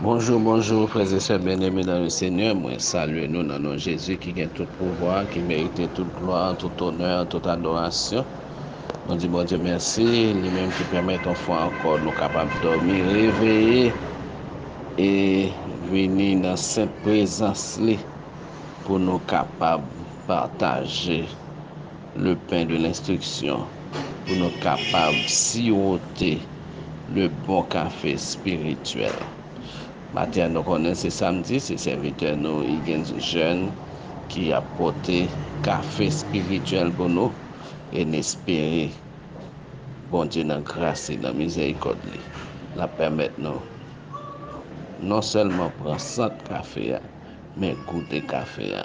Bonjou bonjou frè e sè byen eme nan le senyè mwen salye nou nan non jezi ki gen tout pouvwa ki merite tout glwa tout onè tout adorasyon nou di bondye mèsi li menm ki pèmèt yon fwa ankò nou kapab dòmi reveye e vini nan senp prezans li pou nou kapab pataje Le pen de lenstriksyon pou nou kapab siwote le bon kafe espirityèl. Maten an nou konnen se samdi, se sèvitè nou Higgins Jeune ki ap pote kafe espirityèl pou nou e n espere Bondye nan gras li, nan mizèrikòd li, l ap pèmèt nou non sèlman pran sant kafe a men goute kafe a.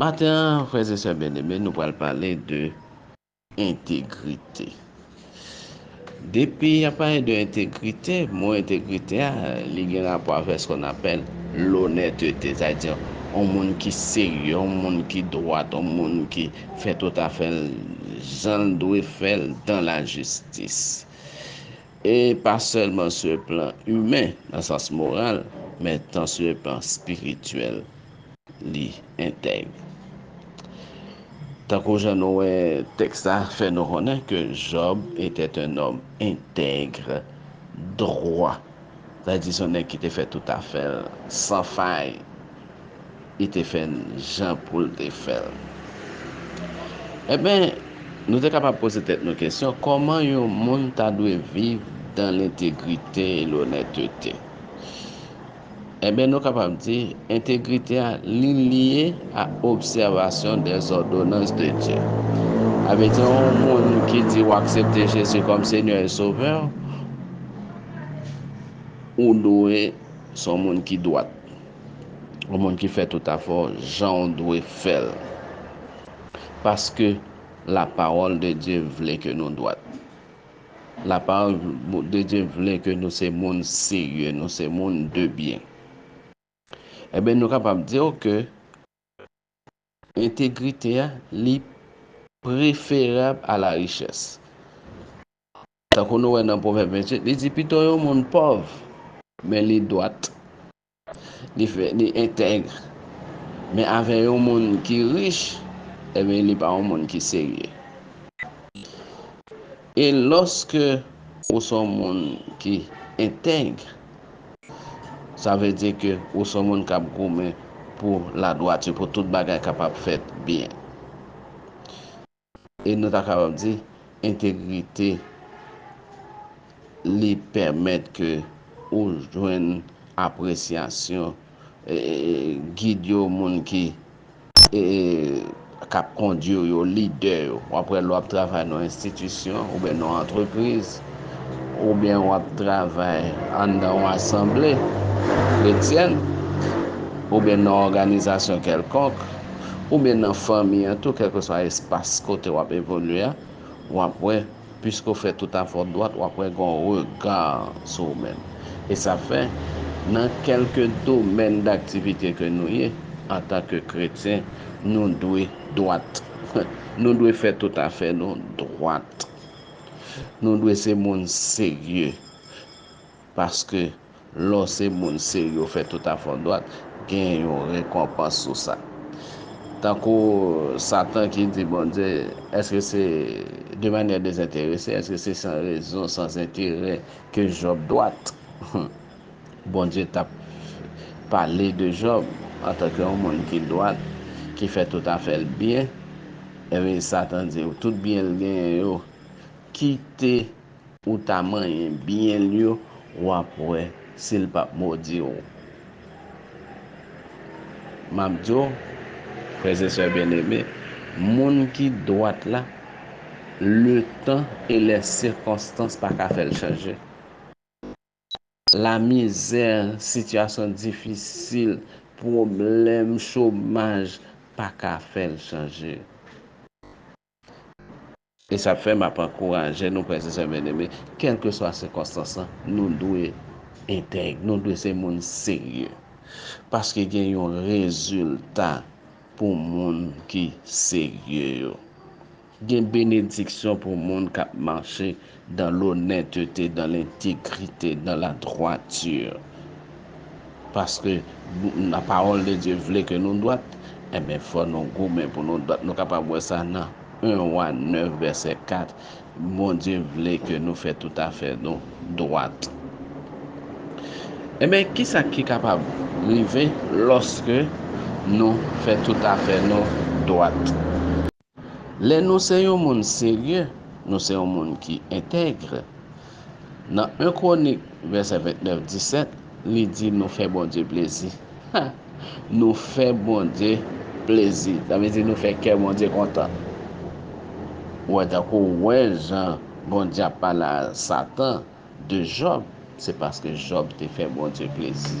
Maten an, frèz e sè byeneme, nou pral pale de entegrite. Depi y ap pale de entegrite, mo entegrite a, li gen rapò avè skon apèl lonètete, sa di yon moun ki serye, yon moun ki dwat, yon moun ki fè tout afè l jan l dwe fè l dan lajistis. E pa sèlman su e plan imen, nan sans moral, men tan su e plan spirityèl, li entèg. Tankou jan nou wè, tèks la fè nou konnen ke Jòb etèt un nòm entègr, dwa, sa vle di s on nèg ki te fè tout afè l san fay. li te fè n jan pou l te fè l. Enben, nou te kapab poze tèt nou kesyon, kòman yon moun ta dwe viv dan lentegrite e lonètete? Enben, nou kapab di, entegrite a, li lye a obsèvasyon dèzòdonans de Dye. A vle di, yon moun ki di ou aksepte Jezi kòm Senyè e Sovè w, ou dwe se yon moun ki dwat. Yon moun ki fè tout afè w jan w dwe fè l. Paske lapawòl de Dye vle ke nou dwat. Lapawòl de Dye vle ke nou se moun serye, nou se moun de byen. Enben nou kapab di w ke entegrite a li preferab a la richès. Tankou nou wè nan Pwovèb 28, li di pito yon moun pòv men li dwat Li fè, li entègre. Men avè yon moun ki rich, enben li pa yon moun ki serye. E lòske ou se yon moun ki entègre, sa vle di ke ou se yon moun k ap goumen pou ladwati, pou tout bagay kapab fèt byen. e nou ta kapab di entegrite li pèmèt ke ou jwenn apresyasyon gid yo, moun ki k ap kondui w yo, lidè yo. Ou ap wè lè w ap travay nan yon enstitisyon oubyen nan yon antrepriz, Oubyen w ap travay anndan yon asanble kretyèn, oubyen nan yon òganizasyon kèlkonk, oubyen nan fanmi an tou, kèlkeswa espas kote w ap evolye a, w ap wè, piske w fè toutafè w dwat, w ap wè gen yon rega sou ou menm. E sa fè, nan kèlke domèn daktivite ke nou ye, antanke kretyen, nou dwe dwat. Nou dwe fè toutafè nou dwat. Nou dwe se moun serye paske lè w se moun serye ou fè tout afondwat, gen yon rekonpans sou sa. Tankou Satan ki di Bondye, èske se de manyè dezenterese, èske se san rezon, san enterè ke Jòb dwat? Bondye t ap pale de Jòb antanke yon moun ki dwat, ki fè tout afè l byen, enben, Satan di, Tout byen l genyen yo, kite ou ta manyen byen l yo, w ap wè si l pap modi w. M ap di w, frèzesè byeneme, moun ki dwat la, letan e lèsikonstans pa ka fè l chanje. Lamizè, sitiyasyon difisil, pwoblèm, chomaj pa ka fè l chanje. E sa fè m ap ankouraje nou, frè e sè byeneme, kèlkeswa sikonstans lan, nou dwe entèg, nou dwe se moun serye. Paske gen yon rezilta pou moun ki serye yo. Gen benediksyon pou moun k'ap mache dan lonètete, dan lentegrite, dan ladwati. Paske la pawòl de Dye vle ke nou dwat, enben fò nou goumen pou nou dwat. Nou kapab wè sa nan 1 Wa 9 vèsè 4, Bondye vle ke nou fè tout afè nou dwat. Enben, kisa ki kapab rive lòske nou fè tout afè nou dwat? Lè nou se yon moun serye, nou se yon moun ki entègre. Nan 1 Kwonik vèsè 29, 17, li di nou fè Bondye plezi. Ha! Nou fè Bondye plezi. Sa vle di nou fè kè Bondye kontan. Ou wè tankou ou wè jan Bondye ap pale a Satan. de Jòb, se paske Jòb te fè Bondye plezi.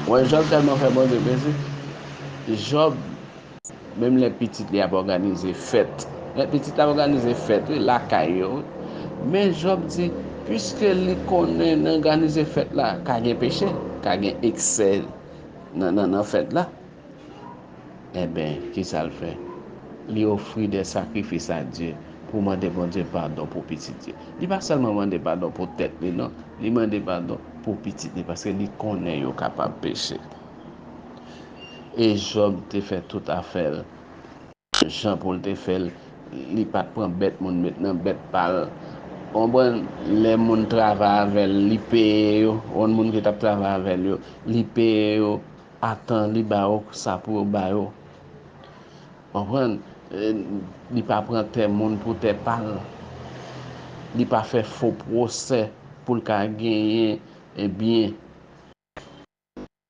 Ou wè, Jòb tèlman fè Bondye plezi, Jòb, menm lè pitit li ap òganize fèt, lè pitit la ap òganize fèt, wi, lakay yo, wi, men Jòb di, piske li konnen nan òganize fèt la ka gen peche, ka gen eksè nan fèt la, Enben, kisa l fè? Li ofri de sakrifis a Dye pou mande Bondye padon pou pitit li. Li pa sèlman mande padon pou tèt li non, li mande padon pou pitit li paske li konnen yo kapab peche. E Jòb te fè tout afè l. Jan poul te fèl li pat pran bèt moun met nan bèt pal ou konprann lè moun travay avèl li peye yo ou konn moun ki tap travay avèl yo li peye yo a tan li ba yo sa pou yo ba yo konprann li pa pran tè moun pou tè pal li pa fè fo pwosè poul ka genyen byen.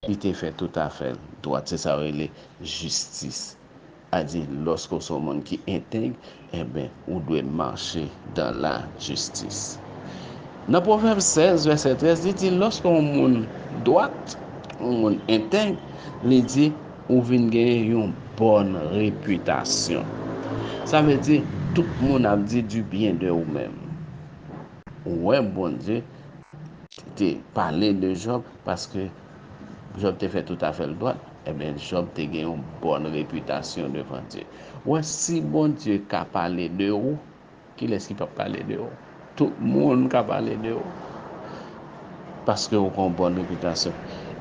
Li te fè tout afè l dwat, se sa yo rele jistis. A di lòske ou se yon moun ki entèg, enben, ou dwe mache dan lajistis. Nan Pwovèb 16, vèsè 13, li di lòske yon moun dwat, yon moun entèg, li di, ou vin genyen yon bòn repitasyon. Sa vle di, tout moun ap di dibyen de ou menm. Ou wè Bondye. te pale de Jòb paske Jòb te fè tout afè l dwat, enben Jòb te gen yon bòn repitasyon devan Dye. Ou wè, si Bondye ka pale de ou, kilès ki pap pale de ou? Tout moun ka pale de ou paske ou gen bòn repitasyon.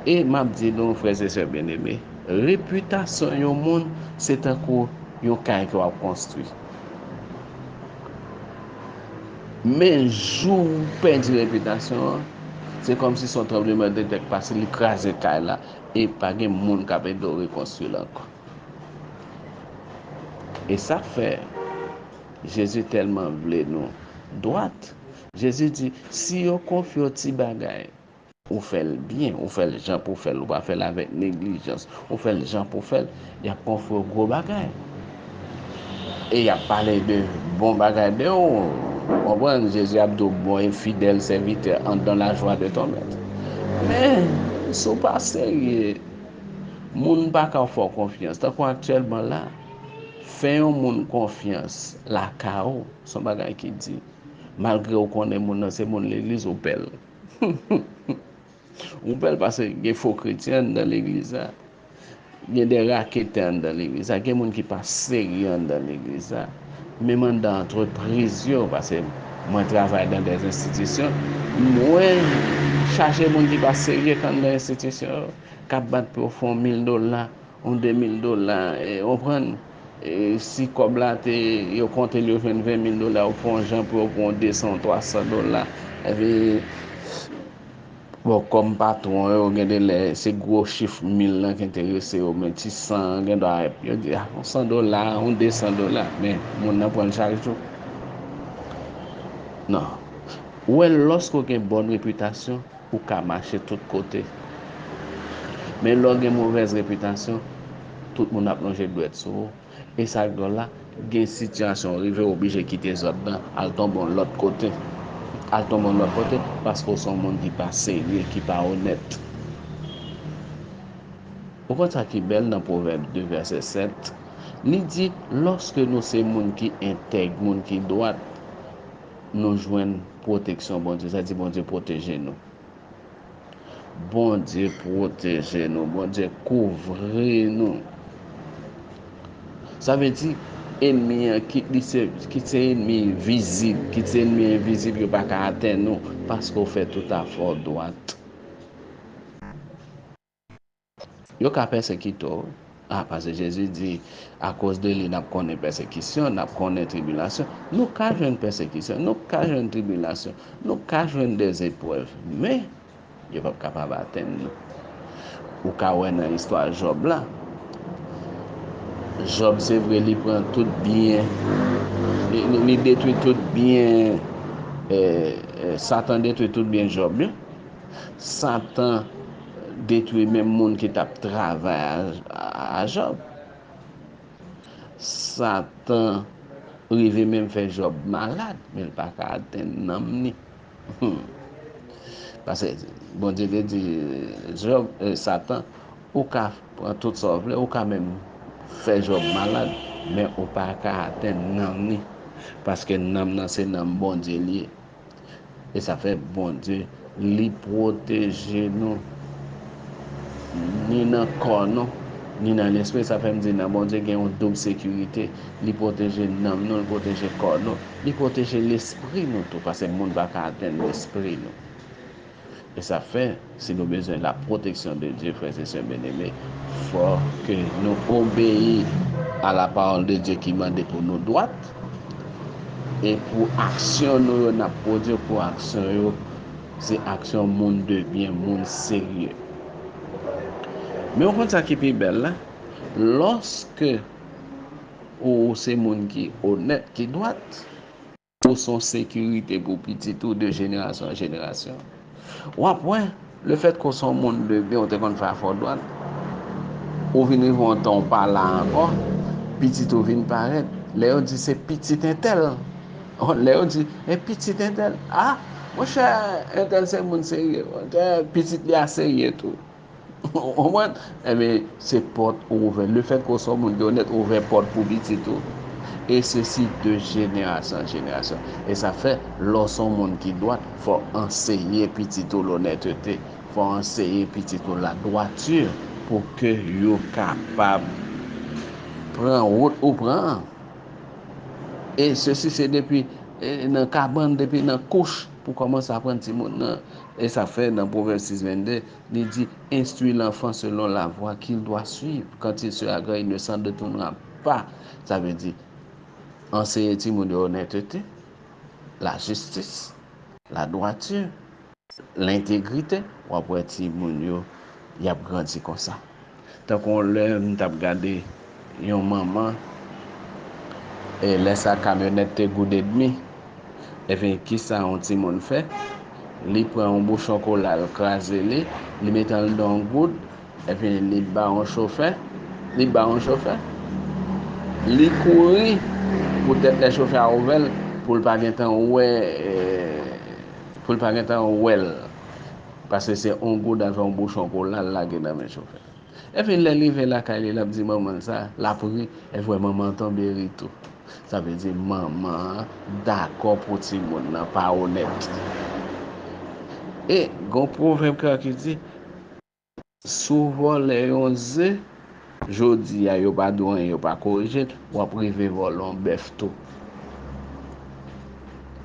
E m ap di nou, frè e sè byeneme, repitasyon yon moun se tankou yon kay ke w ap konstwi. Men jou ou pèdi repitasyon an, se kòmsi son tranbleman de tè k pase, li kraze kay la, e pa gen moun k ap ede w rekonstwi l ankò. E sa k fè Jezi tèlman vle nou dwat, Jezi di, Si yo konfye w ti bagay, Ou fè l byen, ou fè l jan pou w fè l, ou pa fè l avèk neglijans, ou fè l jan pou w fè l, y ap ofri w gwo bagay. E y ap pale de bon bagay de ou. Ou konprann? Jezi ap di w, Bon e fidèl sèvitè, ant dan lajwa de ton mèt. Men, si w pa serye, moun pa ka fè w konfyans. Tankou aktyèlman la, fè yon moun konfyans lakay ou, s on bagay ki di. Malgre ou konnen moun nan se moun legliz, ou pè l. Ou pèl paske gen fo kretyen anndan legliz la, gen de raketè anndan legliz la, gen moun ki pa serye anndan legliz la, menm anndan antrepriz yo, paske mwen travay nan de enstitisyon, mwen chaje moun ki pa serye anndan enstitisyon yo, k ap bat pou yo fon mil dola On 2 mil dola ou konprann si kòb la te yo konte l yo jwenn 20 mil dola ou fè on jan pou yo pou on 200 ou 300 dola epi bon kòm patwon yo gen de lè se gwo chif mil lan ki enterese yo men ti san an gen dwa yo di a on 100 dola on 200 dola men moun nan pran l chak jou nan ou wè lòske ou gen bòn repitasyon. Ou ka mache tout kote. Men lè w gen movèz repitasyon, tout moun ap lonje dwèt sou ou. E sa k dwòl la, gen sitiyasyon ou rive oblije kite zòn nan, al tonbe yon lòt kote. Al tonbe yon lòt kote paske ou se yon moun ki pa serye, ki pa onèt. Ou konn sa ki bèl nan Pwovèb 2 vèsè 7? Li di, Lòske nou se moun ki entèg, moun ki dwat. nou jwenn pwoteksyon Bondye. Sa di Bondye pwoteje nou. Bondye pwoteje nou. Bondye kouvri nou. Sa vle di, enmi an, kit li se, kit se enmi vizib, kit se enmi envizib, yo pa ka atenn ou, paske ou fè tout afè w dwat. Yo ka pèsekite w, a, paske Jezi di, Akoz de li n ap konnen pèsekisyon, n ap konnen tribilasyon. Nou ka jwenn pèsekisyon, nou ka jwenn tribilasyon, nou ka jwenn dezeprèv, men, yo pap kapab atenn nou. Ou ka wè nan istwa Jòb la, Jòb se vre li pran tout byen, li detwi tout byen, Satan detwi tout byen Jòb yo. Satan. detwi menm moun ki t ap travay a Jòb. Satan rive menm fè Jòb malad, men l pa ka atenn nanm ni. Pase Bondye te di Jòb, Satan, ou ka pran tout sa w vle, ou ka menm fè Jòb malad, men ou pa ka atenn nanm ni, paske nanm nan se nanm Bondye li ye. E sa fè Bondye li pwoteje nou ni nan kò nou, ni nan lespri. Sa fè m di nan Bondye gen yon doub sekirite. Li pwoteje nanm nou, li pwoteje kò nou, li pwoteje lespri nou tou. Pase moun pa ka atenn lespri nou. E sa fè, si nou bezwen la protection de Dieu, frères et sœurs bien-aimés, fò ke nou obeyi a la parole de Dieu ki mande pou nou dwat, e pou aksyon nou yo n'ap pwodwi, pou aksyon yo se aksyon moun de byen, moun serye. Men ou konn sa ki pi bèl la? Lòske ou se moun ki onèt, ki dwat, Ou son sekirite pou pitit ou de jenerasyon an jenerasyon. W ap wè, lefètke w son moun de byen, w te konn fè afè w dwat, ou vin rive yon tan w pa la ankò, pitit ou vin parèt. Lè yo di se pitit entèl, lè yo di e pitit entèl, a, monchè, entèl se moun serye, pitit li a serye tou. Ou konprann? Enben, se pòt ou ouvè. Le fèt ke w se yon moun ki onèt, ou ouvè pòt pou pitit ou. E sesi de jenerasyon an jenerasyon. E sa fè, lè w se yon moun ki dwat, fò w anseye pitit ou lonètete. Fò w anseye pitit ou ladwati pou ke yo kapab pran wout ou pran an. E sesi se depi nan kabann, depi nan kouch pou w kòmanse aprann timoun nan. E sa fè, nan Pwovèb 6, 22, li di, Enstwi lanfan selon lavwa ki l dwa swiv, kant il sera gran, il ne s'en detournera pas. Sa vle di, anseye timoun yo onètete, lajistis, ladwati, lentegrite, w ap wè timoun yo y ap grandi konsa. Tankou lè m t ap gade yon manman e lè sa kamyonèt te goude dmi ebyen kisa yon timoun fè li pran yon bouchon kola l kraze li li mete anndan yon goud ebyen li ba yon chofè li ba yon chofè li kouri poutèt lè chofè a ouvè l pou l pa gentan wè pou l pa gentan wè l. Pase se on goud avè on bouchon kola l lage nan men chofè. Epi lè l rive lakay li l ap di manman l sa, l ap ri, evre manman an tonbe ri tou. Sa vle di manman an dakò pou timoun nan pa onèt. E gen on pwovèb kè ki di. Si w vòlè yon ze jodi a yo pa di w anyen yo pa korije l, w ap rive vòlè yon bèf tou.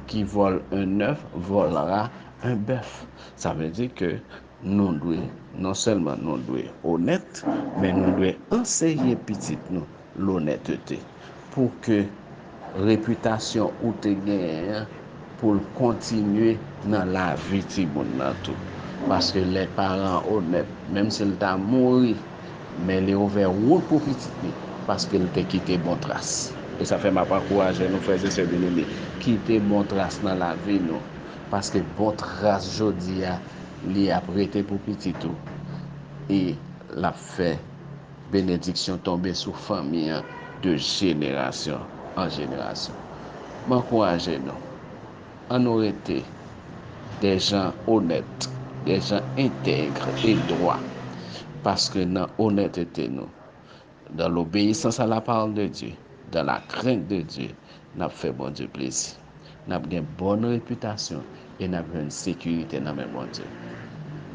Ki vòl 1 nèf vòlra 1 bèf. Sa vle di ke nou dwe non sèlman nou dwe onèt men nou dwe anseye pitit nou. lonètete pou ke repitasyon ou te genyen an pou l kontinye nan lavi timoun nan tou. Paske lè paran an onèt, menm si l ta mouri, men li ouvè wout pou pitit li, paske l te kite bon tras. E sa fè m ap ankouraje nou, frè e sè byeneme, kite bon tras nan lavi nou, paske bon tras jodi a, li ap rete pou pitit ou, e l ap fè Benediksyon tonbe sou fanmi an de jenerasyon an jenerasyon. M ankouraje nou, an nou rete de jan onèt, de jan entegre e dwa, paske nan onètete nou, dan lobeyisans a la pawòl de Dye, dan la krent de Dye, n ap fè Bondye plezi. N ap gen bòn repitasyon e n ap jwenn sekirite nan men Bondye.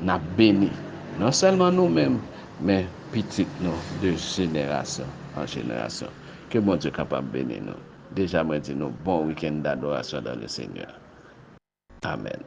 N ap beni, non sèlman nou menm, men pitit nou de jenerasyon an jenerasyon. Ke Bondye kapab beni nou. Deja mwen di nou bon wikenn dadorasyon dan le Senyè. Amèn.